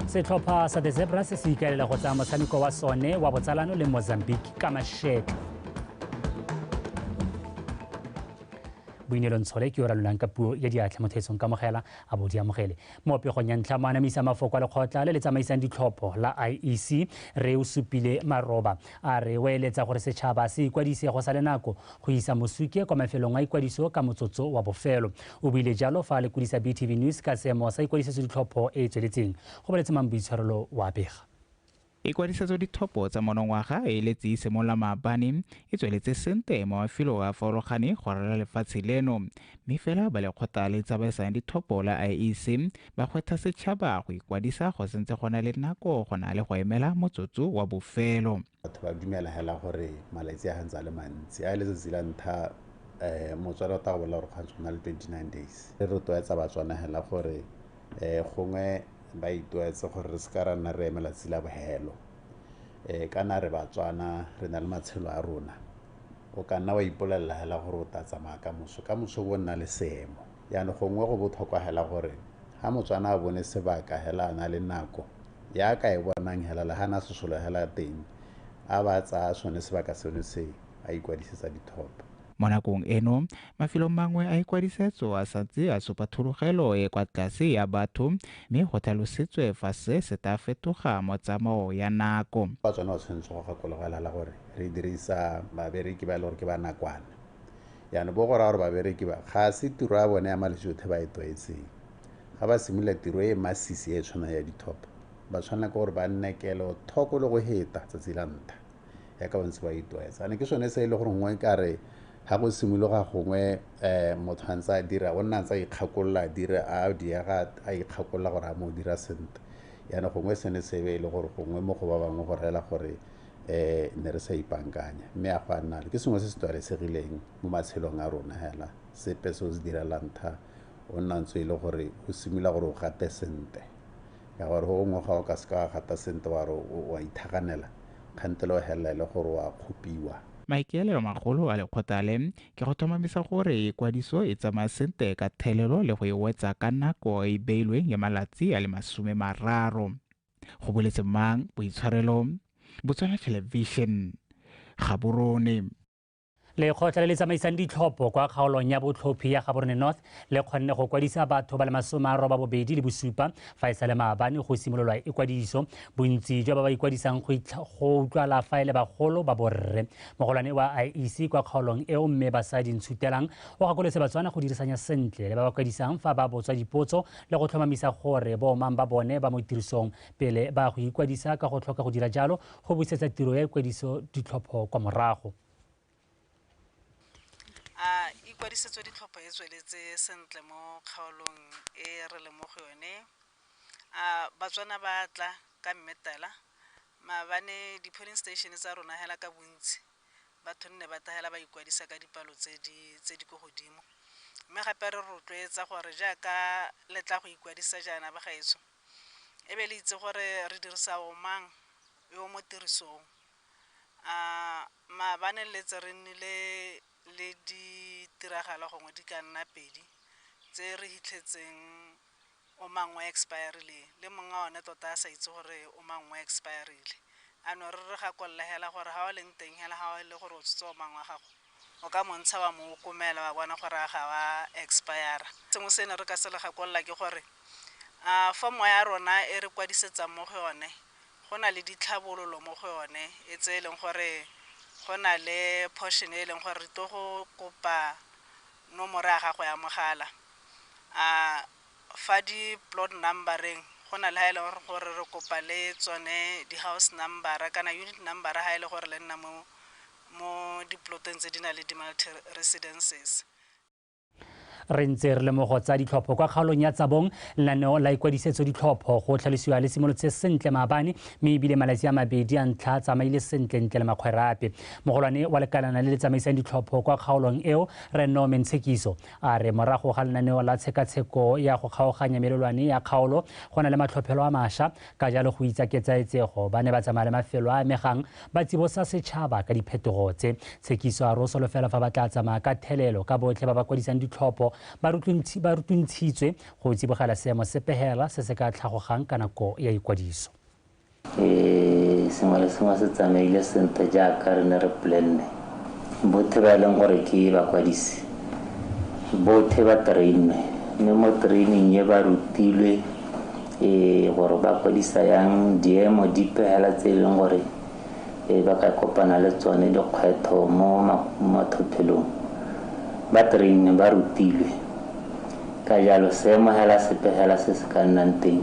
setlhopha sa the zebra se se ikaelela go tsaya motshameko wa sone wa botsalano le mozambique ka mashetlo boineelo ntshole ke yo ralolang ka puo ya diatlha motho etsong kamogela a bo di amogele mo pegong ya ntlha mo anamisa mafoko a lekgotla le le tsamaisang ditlhopho la iec re o supile maroba A re o eletsa gore setšhaba se ikwadise go sa le nako go isa mosuke kwa mafelong a ikwadiso ka motsotso wa bofelo. O buile jalo fa a lekodisa BTV News ka seemo sa ikwadisetso ditlhopho e e tsweletseng, go baletse mang Boitshwarelo o a bega. Ikwadisetso ditlhopho tsa monongwaga e eletse e simolola maabane, e tsweletse sente mo mafelo a farologane go ralala lefatshe leno, mme fela ba lekgotla le tsamaisang ditlhopho la IEC ba kgwetha setšhaba go ikwadisa go sentse go na le nako go na le go emela motsotso wa bofelo batho ba dumela hela gore malatsi a gantse a le mantsi a e letsatsi la ntlha um motswana o tla bolela gore kgantse go na le 29 days re rotloetsa batswana hela gore um gongwe ba itoetse gore re seka ra nna re emela tsi la bohelo um kana re batswana re na le matshelo a rona o ka nna wa ipolelela hela gore o ta tsamaya ka moso ka moso bo nna le seemo yana gongwe go botlhokwa hela gore ha motswana a bone sebaka hela a na le nako ya ka e bonang hela le hana sesolo hela teng a ba tsaya sone sebaka seno se a ikwadisetsa dithoto Mo nakong eno, mafelo mangwe a ikwadisetso a santse a supa thulogelo e kwa tlase ya batho mme go tlhalosetswe fa se se tla fetoga mo tsamao ya nako. Batswana ba tshwanetse go gakologelala gore re dirisa babereki ba e le gore ke ba nakwana Jaanong bo go raya gore babereki ba, ga se tiro ya bone ya malejotlhe ba e tlwaetseng. Ga ba simolola tiro e e masisi e e tshwanang ya dithopo, ba tshwanela ke gore ba nne kelothoko le go heta tsatsi la ntlha, jaaka ba ntse ba itlwaetsa. Jaanong ke sone se e le gore gongwe ka re ga go simologa gongwe um motho a ntse a dira, o nna a ntse a ikgakolola a dire a diega a ikgakolola gore a mo o dira sentle. Jaanong gongwe sene se be e le gore gongwe mo go ba bangwe go reela gore eh ne re sa ipankanya mme a go a nna ke sengwe se se tlwaelesegileng mo matshelong a rona hela sepe se o se direlang tha o nna ntse e le gore o simolola gore o gate sente ka gore go gongwe ga o ka seka wa gata sente wa re wa ithaganela kgante le o helela e le gore wa kgopiwa Maikaelelo magolo a lekgotla le ke go tlhomamisa gore kwadiso e tsamaya sente ka thelelo le go e wetsa ka nako e beilweng ya malatsi a le masome mararo. go boletse mang boitshwarelo bo tswela television gaborone lekgotla le le tsamaisang ditlhopho kwa kgaolong ya botlhophi ya gaborone north le kgonne go kwadisa batho ba le masome a roba bobedi le bosupa fa e sa le maabane go simololwa ikwadiso bontsi jwa ba ba ikwadisang go utlwala fa e le bagolo ba borre mogolwane wa iec kwa kgaolong eo mme basadi ntshutelang o gakoletse batswana go dirisanya sentle le ba ba kwadisang fa ba botswa dipotso le go tlhomamisa gore bo mang ba bone ba mo tirisong pele ba go ikwadisa ka go tlhoka go dira jalo go busetsa tiro ya ikwadiso ditlhopho kwa morago. A ikwadisetso ditlhopho e tsweletse sentle mo kgaolong e re leng mo go yone? A Batswana ba tla ka mmetela? Maabane di-polling station tsa rona hela ka bontsi batho nne ba tahela ba ikwadisa ka dipalo tse di tse di ko godimo mme gape re rotloetsa gore jaaka le tla go ikwadisa jaana ba gaetsho e be le itse gore re dirisa o mang yo mo tirisong a maabane letse re nnile le ditiragalo gongwe di ka nna pedi tse re hitlhetseng o mang o expire-rile le monga one tota a sa itse gore o mang o expire-rile. A no re re gakolole hela gore ha o leng teng hela ha o le gore o tshotse o mang wa gago o ka montsha wa mo okomela wa bona gore a ga wa expire-ra. Sengwe se ne re ka se le gakolola ke gore a form-o ya rona e re kwadisetsang mo go yone go na le ditlhabololo mo go yone e tse e leng gore go na le portion e e leng gore re tlo go kopa nomoro ya gago ya mogala. fa di plot number-eng go na le ha e leng gore re kopa le tsone di house number kana unit number ha e le gore le nna mo di plot-eng tse di na le di multi residences. Re ntse re le mo go tsa ditlhopho kwa kgaolong ya Tsabong, lenaneo la ikwadisetso ditlhopho go tlhalosiwa le simolotse sentle maabane mme ebile malatsi a mabedi a ntlha a tsamaile sentle ntle le makgwerape. Mogolwane wa lekalana le le tsamaisang ditlhopho kwa kgaolong eo, Rre Norman Tshekiso, A re morago ga lenaneo la tshekatsheko ya go kgaoganya melelwane ya kgaolo, go na le matlhophelo a masha, ka jalo go itsa ketsaetsego, ba ne ba tsamaya le mafelo a amegang ba tsibosa setšhaba ka diphetogo tse. Tshekiso a re o solofela fa ba tla tsamaya ka thelelo ka botlhe ba ba kwadisang ditlhopho ba rutuntshitswe go tsibogela seemo se pehela se se ka tlhagogang ka nako ya ikwadiso. sengwe le sengwe se tsamaile sentle jaaka re ne re plenne bothe ba e leng gore ke bakwadisi bothe ba trainwe mme mo training e ba rutilwe um gore ba kwadisa yang diemo di pegela tse e leng gore um ba ka kopana le tsone dikgwetho mo mathophelong ba trainwe ba rutilwe Ka jalo, seamogelasepegela se se ka nnang teng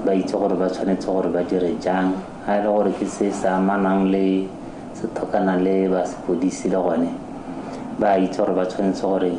ba itse gore ba tshwanetse gore ba dire jang. Ga e le gore ke se se amanang le se thokana le ba sepodisi le gone ba itse gore ba tshwanetse gore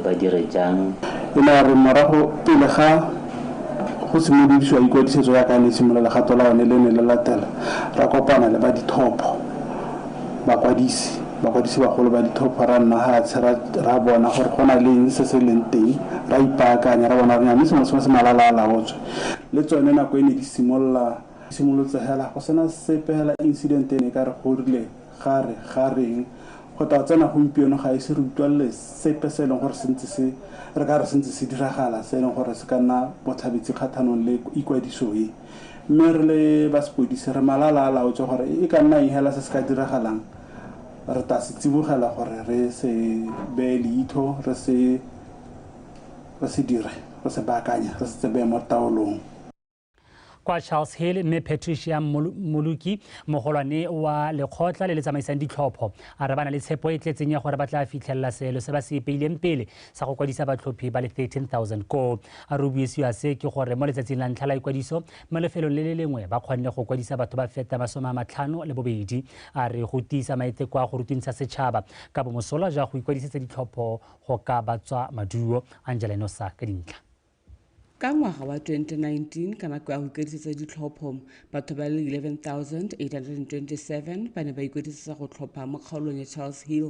ba dire jang. O ne a re morago pele ga go simolodisiwa ikwadisetso jaaka e ne e simolola legato la one le ne le latela, ra kopana le ba dithopho. bakwadisi bakwadisi bagolo ba ditlhopho ra nna fatshe ra bona gore go na leng se se leng teng ra ipaakanya ra bona renya mme sengwe sengwe se malala a laotswe le tsone nako e ne di simolola simolotse hela go sena sepe hela incident e ne ka re go rile ga re ga reng go tla tsena gompieno ga ise re utlwalele sepe se e leng gore se ntse se re ka re se ntse se diragala se e leng gore se ka nna botlhabetsi kgathanong le ikwadiso e Mme re le ba sepodisi re malala a laotswe gore e ka nna eng hela se se ka diragalang, re tla se tsibogela gore re se beye leitho, re se re se dire, re se baakanye, re se tsebeye mo taolong. Kwa Charles Hill, Mme Patricia Mmoloki, mogolwane wa lekgotla le le tsamaisang ditlhopho, a re ba na le tshepo e e tletseng ya gore ba tla fitlhelela seelo se ba se ipeileng pele sa go kwadisa batlhophi ba le 13,000 koo. A re o buisiwa se ke gore mo letsatsing la ntlha la ikwadiso mo lefelong le le lengwe ba kgonne go kwadisa batho ba feta masome a matlhano le bobedi. A re go tiisa maiteko a go rutwintsha setšhaba ka bomosola ja go ikwadisetsa ditlhopho go ka batswa maduo. Angela Enosa ka dintlha. Ka ngwaga wa 2019, ka nako ya go ikwadisetsa ditlhopho, batho ba le 11,827 ba ne ba ikwadisetsa go tlhopha mo kgaolong ya Charles Hill.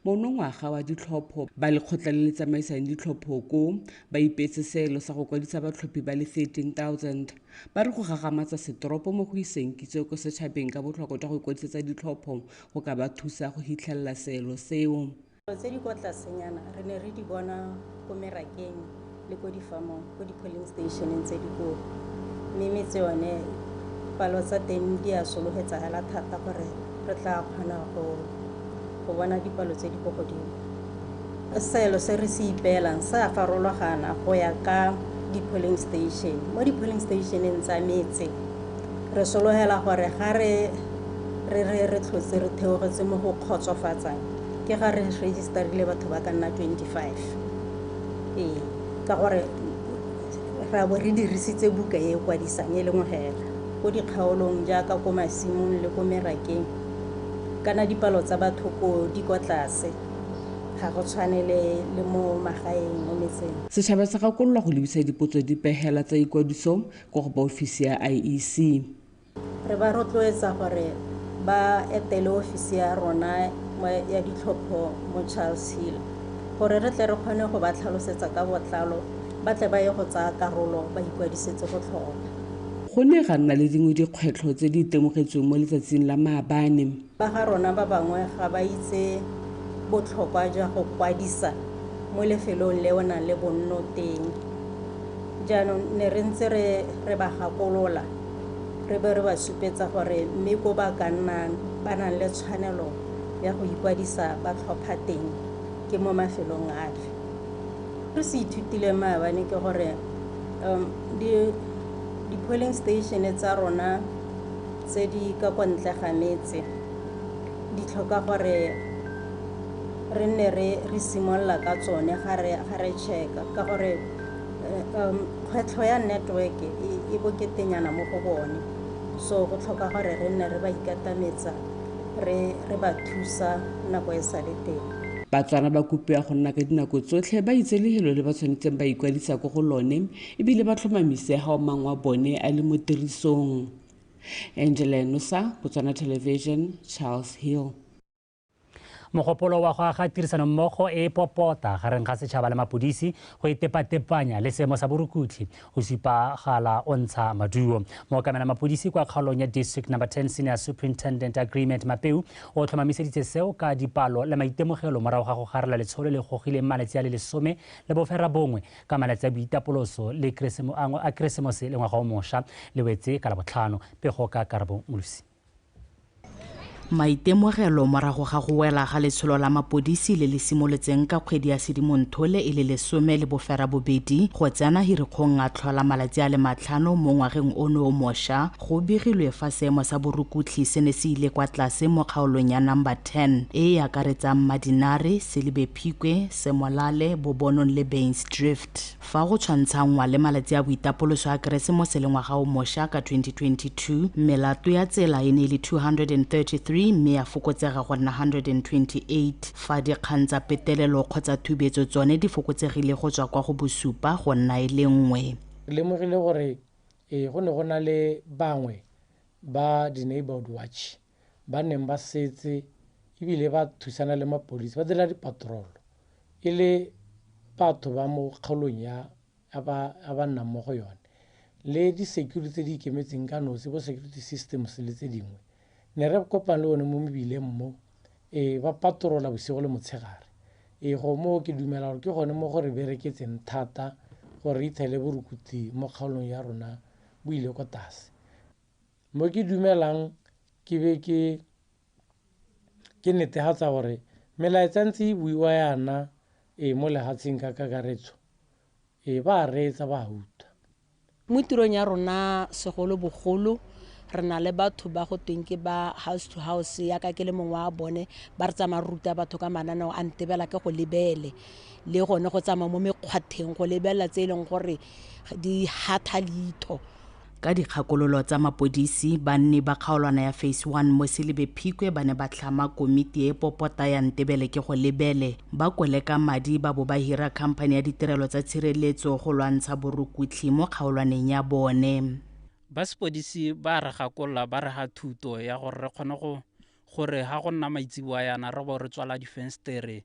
Monongwaga wa ditlhopho, ba lekgotla le le tsamaisang ditlhopho ko ba ipeetse seelo sa go kwadisa batlhophi ba le 13,000. Ba re go gagamatsa setoropo mo go iseng kitso ko setšhabeng ka botlhokwa jwa go ikwadisetsa ditlhopho go ka ba thusa go hitlhelela seelo seo. Dilo tse di kwa tlasenyana re ne re di bona ko merakeng le ko difamong ko di-polling stationeng tse dikolo mme metse yone palo tsa teng di a sologetsagala thata gore re tla kgona go go bona dipalo tse di ko godimo seelo se re se ipeelang se a farologana go ya ka di-polling station mo di-polling stationeng tsa metse re sologela gore ga re re re re tlhotse re theogetse mo go kgotsofatsang ke ga re register-ile batho ba ka nna 25 ee ka gore ra bo re dirisitse buka e e kwadisang e leng hela ko dikgaolong jaaka ko masimong le ko merakeng kana dipalo tsa batho ko di kwa tlase ga go tshwane le le mo magaeng mo metseng Setšhaba se gakololwa go lebisa dipotso dipegela tsa ikwadiso kwa go ba ofisi ya IEC. Re ba rotloetsa gore ba etele ofisi ya rona ya ditlhopho mo Charles Hill gore re tle re kgone go ba tlhalosetsa ka botlalo ba tle ba ye go tsaya karolo ba ikwadisetse go tlhopha. Go ne ga nna le dingwe dikgwetlho tse di itemogetsweng mo letsatsing la maabane. Ba ga rona ba bangwe ga ba itse botlhokwa jwa go kwadisa mo lefelong le o nang le bonno teng. Jaanong ne re ntse re re ba gakolola re be re ba supetsa gore mme ko ba ka nnang ba nang le tshwanelo ya go ikwadisa ba tlhopha teng ke mo mafelong afe. Se se ithutileng maabane ke gore um, di, di-polling station tsa rona tse di ka kwa ntle ga metse di tlhoka gore re nne re re simolola ka tsone ga re ga re checka ka gore um kgwetlho ya network e, e boketenyana mo go bone so go tlhoka gore re nne re ba ikatametsa re re ba thusa nako e sa le teng Batswana ba kopiwa go nna ka dinako tsotlhe ba itse lehelo le ba tshwanetseng ba ikwadisa ko go lone e bile ba tlhomamise ga o mang wa bone a le mo tirisong. Angela Enosa, Botswana Television, Charles Hill. mogopolo wa go aga tirisanommogo e e popota gareng ga setšhaba le mapodisi go itepatepanya e le seemo sa borukutlhi o supagala o ntsha maduo mookamela mapodisi kwa kgaolong ya district number 10 senior superintendent agreement mapeu o tlhomamiseditse seo ka dipalo le maitemogelo morago ga go garela letsholo le gogileng malatsi a le lesome le bofera bongwe Ka malatsi a Boitapoloso le Keresemoango a Keresemose le Ngwaga o Mosha le wetse ka Labotlhano. Pego ka Karabo Molusi. Maitemogelo morago ga go wela ga letsholo la mapodisi le le simolotseng ka kgwedi ya Sedimonthole e le lesome le boferabobedi go tsena hirikgong a tlhola malatsi a le matlhano mo ngwageng ono o mosha, go begilwe fa seemo sa borukutlhi se ne se ile kwa tlase mo kgaolong ya Number 10 e e akaretsang Madinare, Selibe, Phikwe, Semolale, Bobonong le Bains Drift. Fa go tshwantshanngwa le malatsi a boitapoloso a Keresemose le ngwaga o mosha ka 2022, melato ya tsela e ne e le 233 mme ya fokotsega go nna 128, fa dikgang tsa petelelo kgotsa thubetso tsone di fokotsegile go tswa kwa go bosupa go nna e le nngwe. Re lemogile gore ee go ne go na le bangwe ba di-neighbourhood watch ba neng ba setse ebile ba thusana le mapodisi ba dira dipatrolo e le batho ba mo kgaolong ya a ba nnang mo go yone le di-security tse di ikemetseng ka nosi bo security systems le tse dingwe ne re kopang le one mo mebileng mo e ba patrola bosigo le motshegare e go moo ke dumela gore ke gone mo go re bereketseng thata gore re itshele borukuti mo kgaolong ya rona bo ile ko tlase mo ke dumelang ke be ke ke netefatsa gore melaetsa ntse e buiwa yana e mo lehatsheng ka kakaretso e ba reetsa ba huta mo tirong ya rona segolo bogolo re na le batho ba go tweng ke ba house to house yaka ke le mongwe wa bone ba re tsamaya re ruta batho ka mananeo a ntebela ke go lebele le gone go tsamaya mo mekgwatheng go lebelela tse e leng gore di hatha leitho Ka dikgakololo tsa mapodisi, banni ba kgaolwana ya Phase 1 mo Selibe Phikwe ba ne ba tlhama komiti e popota ya Ntebele ke go lebele, ba koleka madi ba bo ba hira khamphani ya ditirelo tsa tshireletso go lwantsha borukutlhi mo kgaolwaneng ya bone. Ba sepodisi ba re gakolola ba re ga thuto ya gore re kgone go gore ga go nna maitseboa yana re bo re tswala difenstere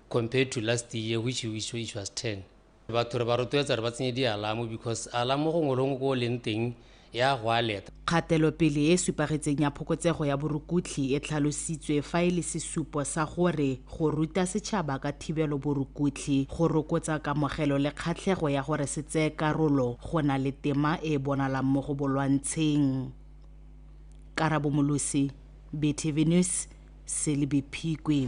compared to last year which, which, which was 10 batho re ba rotloetsa re ba tsenye dialamo because alamo gongwe longwe ko o leng teng ya go a leta Kgatelopele e e supagetseng ya phokotsego ya borukutlhi e tlhalositswe fa e le sesupo sa gore go ruta setšhaba ka thibelo borukutlhi go rokotsa kamogelo le kgatlhego ya gore se tseye karolo go na le tema e e bonalang mo go bolwantsheng. Karabo Molosi, BTV News. Selby Phikwe.